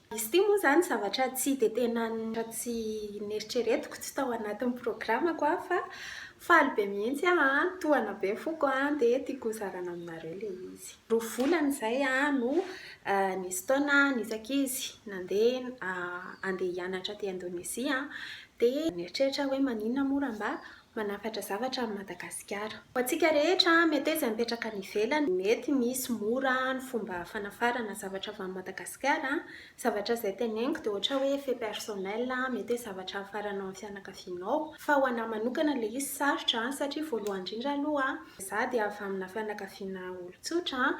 Izy ity moa izany zavatra tsy dia tena, raha tsy neritreretiko, tsy tao anatin'ny programako aho fa faly be mihitsy aho an, tohana be foko an, dia tiako hozarana aminareo ilay izy. Roa volana izay aho no nisy taona nihisaka izy nandeha handeha hianatra aty Indonezia an, dia nieritreritra aho hoe maninona moa raha mba manafatra zavatra amin'i Madagasikara. Ho antsika rehetra, mety hoe izay mipetraka any ivelany, mety misy mora ny fomba fanafarana zavatra avy any Madagasikara. Zavatra izay teneniko dia ohatra hoe fait personnel, mety hoe zavatra hafaranao amin'ny fianakavianao. Fa ho an'ahy manokana ilay izy sarotra satria voalohany indrindra aloha, izaho dia avy amina fianakaviana olon-tsotra,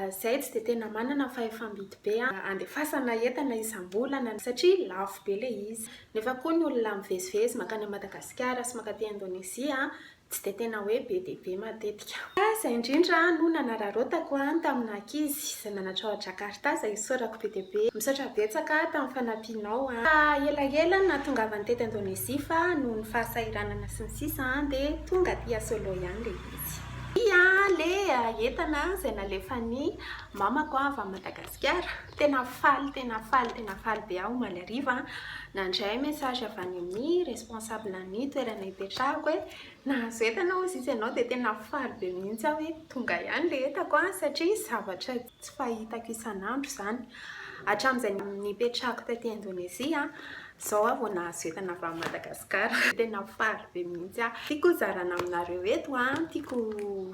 izahay tsy dia tena manana fahefam-bidy be handefasana entana isam-bolana satria lafo be ilay izy. Nefa koa ny olona mivezivezy mankany amin'i Madagasikara sy mankaty Indonezia tsy dia tena hoe be dia be matetika. Ka izay indrindra no nanararaotako an tamin'ny naha ankizy izay nanatra ao Jakarta izay isaorako be dia be. Misaotra betsaka tamin'ny fanampianao an. Fa elaela ny nahatongavany teto Indonezia fa noho ny fahasahiranana sy ny sisa an dia tonga aty a Solo ihany ilay izy. Dia ilay entana izay nalefan'ny mamako avy any Madagasikara. Tena faly tena faly tena faly be aho omaly hariva nandray message avy any amin'ny responsable ny toerana hipetrahako hoe nahazo entana hozy izy ianao dia tena faly be mihitsy aho hoe tonga ihany ilay entako an satria zavatra tsy fahitako isan'andro izany hatramin'izay nipetrahako taty Indonezia izao aho vao nahazo entana avy any Madagasikara tena faly be mihitsy aho tiako hozarana aminareo eto an tiako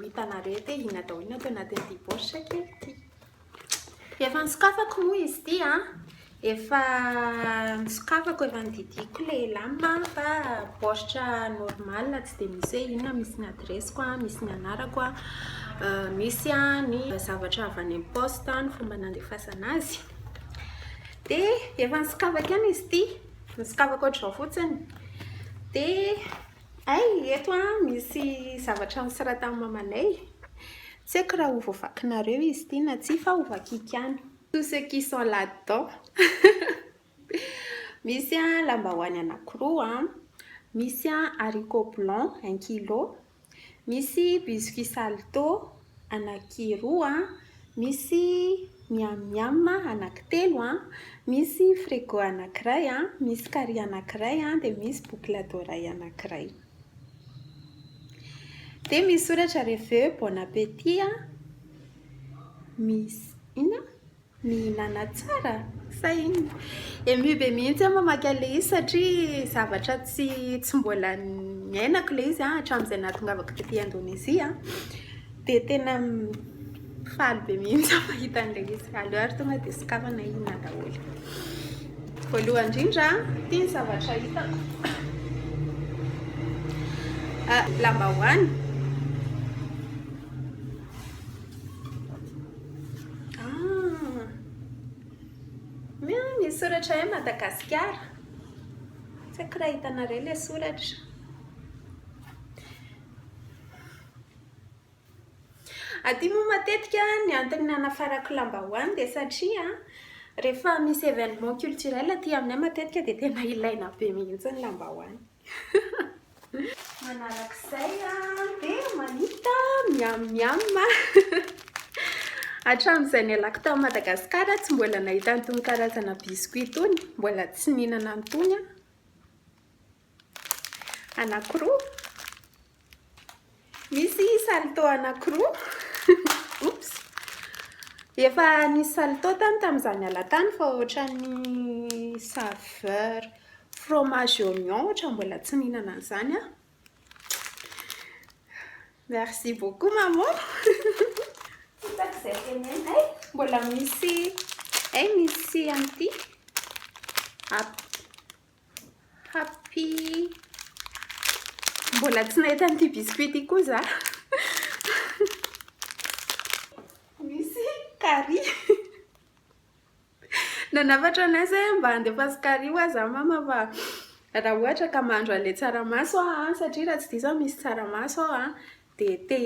hitanareo eto hoe inona daholo no ato anatin'ity paositra kely ity Efa nisokafako moa izy ity a. Efa nisokafako, efa nodidiako ilay lame fa baoritra normal tsy dia misy hoe inona, misy ny adiresiko, misy ny anarako, misy ny zavatra avy any amin'ny poste, ny fomba nandefasana azy. Dia efa nisokafako ihany izy ity, nisokafako ohatr'izao fotsiny. Dia. Hay eto an misy zavatra nosoratan'i mamanay, tsy haiko raha ho voavakinareo izy ity na tsia fa ho vakiako ihany. Tous ceux qui sont là dedans Misy an lambahoany anankiroa an, misy an haricots blancs un kilo, misy biscuits salto anaky roa an, misy miam miam anaky telo an, misy frigo anakiray an, misy kary anakiray an, dia misy boucle d'oreille anakiray. Dia misy soratra reveo bon appétit an, misy inona? Ny manatsara? Sa inona? Ému be mihitsy aho mamaky an'ilay izy satria zavatra tsy tsy mbola niainako ilay izy hatramin'izay nahatongavako taty Indonezia. Dia tena faly be mihitsy aho mahita an'ilay izy. Aleo ary tonga dia sokafana inona daholo. Voalohany indrindra, ity ny zavatra hitako. Ah, lambahoany. Ah! Miha misy soratra hoe Madagasikara. Tsy haiko raha hitanareo ilay soratra. Aty moa matetika ny antony nanafarako lambahoany dia satria rehefa misy événement culturel aty aminay matetika dia tena ilaina be mihitsy ny lambahoany. Manarak'izay dia mahita miam miam Hatramin'izay nialako tany Madagasikara tsy mbola nahita an'itony karazana biscuit itony, mbola tsy nihinana an'itony aho, anankiroa. Misy salto anankiroa. Oops. Efa nisy salto tany tamin'izaho niala tany fa ohatran'ny saveur fromage oignon ohatran'ny mbola tsy nihinana an'izany aho. Merci beaucoup maman. Hitako izay tenenina. Hay, mbola misy hay misy an'ity. App. Happy Mbola tsy nahita an'ity biscuit ity koa za Misy kary Nanafatra anay zay hoe mba andefaso kary ho ahy za mama fa raha ohatra ka mahandro an'ilay tsaramaso aho an, satria raha tsy diso aho misy tsaramaso ao an, De te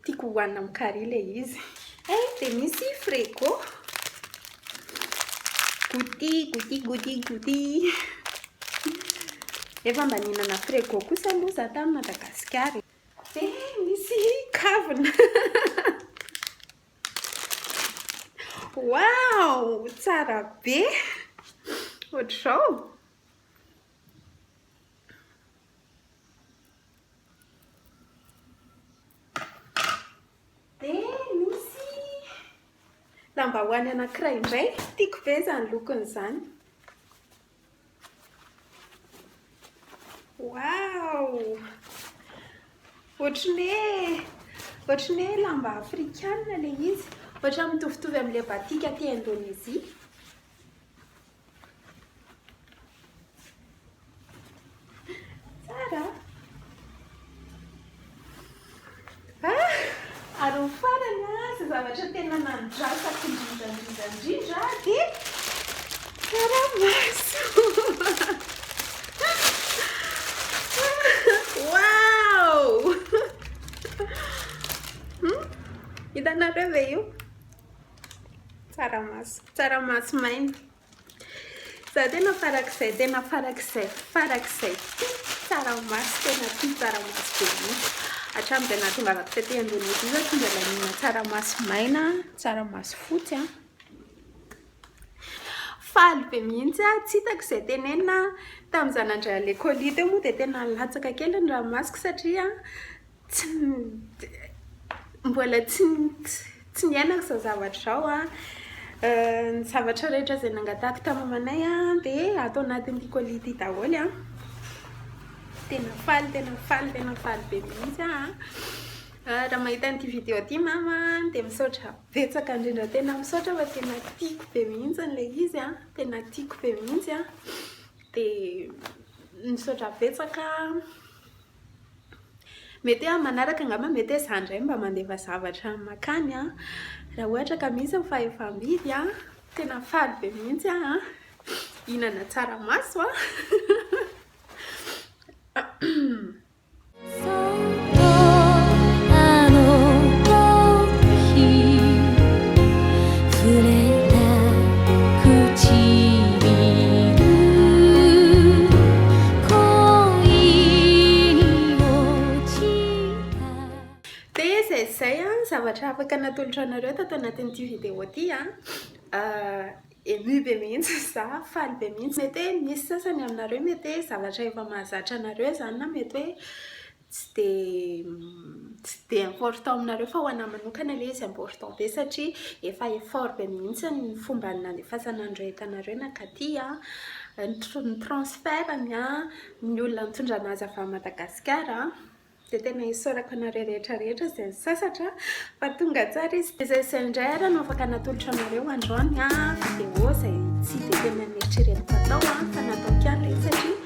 tiako hohanina amin'ny carry le izy. Eh de misy frego. Gouty, gouty, gouty, gouty. Efa mba nihinana frego kosa aloha za tany Madagasikara e. De misy kavina. Waouh! Tsara be. Ohatr'izao. Dia misy lambahoany anankiray indray, tiako be izany lokony izany. Wow! Ohatry ny hoe ohatry ny hoe lamba afrikana ilay izy, ohatra mitovitovy amin'ilay batik aty Indonezia. Tsara an! Ah! Ary ny farany an, izay zavatra tena nandrasako indrindra indrindra indrindra dia tsaramaso! Waouh! Hitanareo ve io? Tsaramaso, tsaramaso maina. Za tena farak'izay, tena farak'izay, farak'izay tia tsaramaso, tena tia tsaramaso be mihitsy. Hatramin'izay nahatongavako taty Indonesie za tsy mbola nihinana tsaramaso maina, tsaramaso fotsy an. Faly be mihitsy aho, tsy hitako izay tenenina. Tamin'izaho nandray an'i Lekôlia teo moa dia tena nilatsaka kely ny ranomasoko satria. Tsy mbola tsy tsy niainako izao zavatra izao an! Ny zavatra rehetra izay nangatahako tamin'ny mamanay an, dia ato anatin'ity colis ity daholo an! Tena faly tena faly tena faly be mihitsy aho an! Raha mahita an'ity video ity mama an, dia misaotra betsaka indrindra tena misaotra fa tena tiako be mihitsy ilay izy an! Tena tiako be mihitsy an! Dia misaotra betsaka an! Mety hoe amin'ny manaraka angamba mety hoe izaho indray mba mandefa zavatra mankany an! Raha ohatra ka misy ny fahefam-bidy an! Tena faly be mihitsy aho an! Hihinana tsaramaso an! Dia izay izay an, zavatra afaka natolotra anareo tato anatin'ity vidéo ity an, ému be mihitsy za, faly be mihitsy, mety hoe misy sasany aminareo mety hoe zavatra efa mahazatra anareo izany na mety hoe tsy dia tsy dia important aminareo fa ho anahy manokana ilay izy important be satria efa effort be mihitsy ny fomba nandefasana an'ireo entanareo nankaty an, ny tr- ny transfert-ny an, ny olona nitondra an'azy avy any Madagasikara an, dia tena isaorako anareo rehetra rehetra izay nisasatra fa tonga tsara izy, dia izay sy izay indray ary no afaka natolotra anareo androany an, vidéo izay tsy dia tena neritreretiko hatao an, fa nataoko ihany ilay izy satria.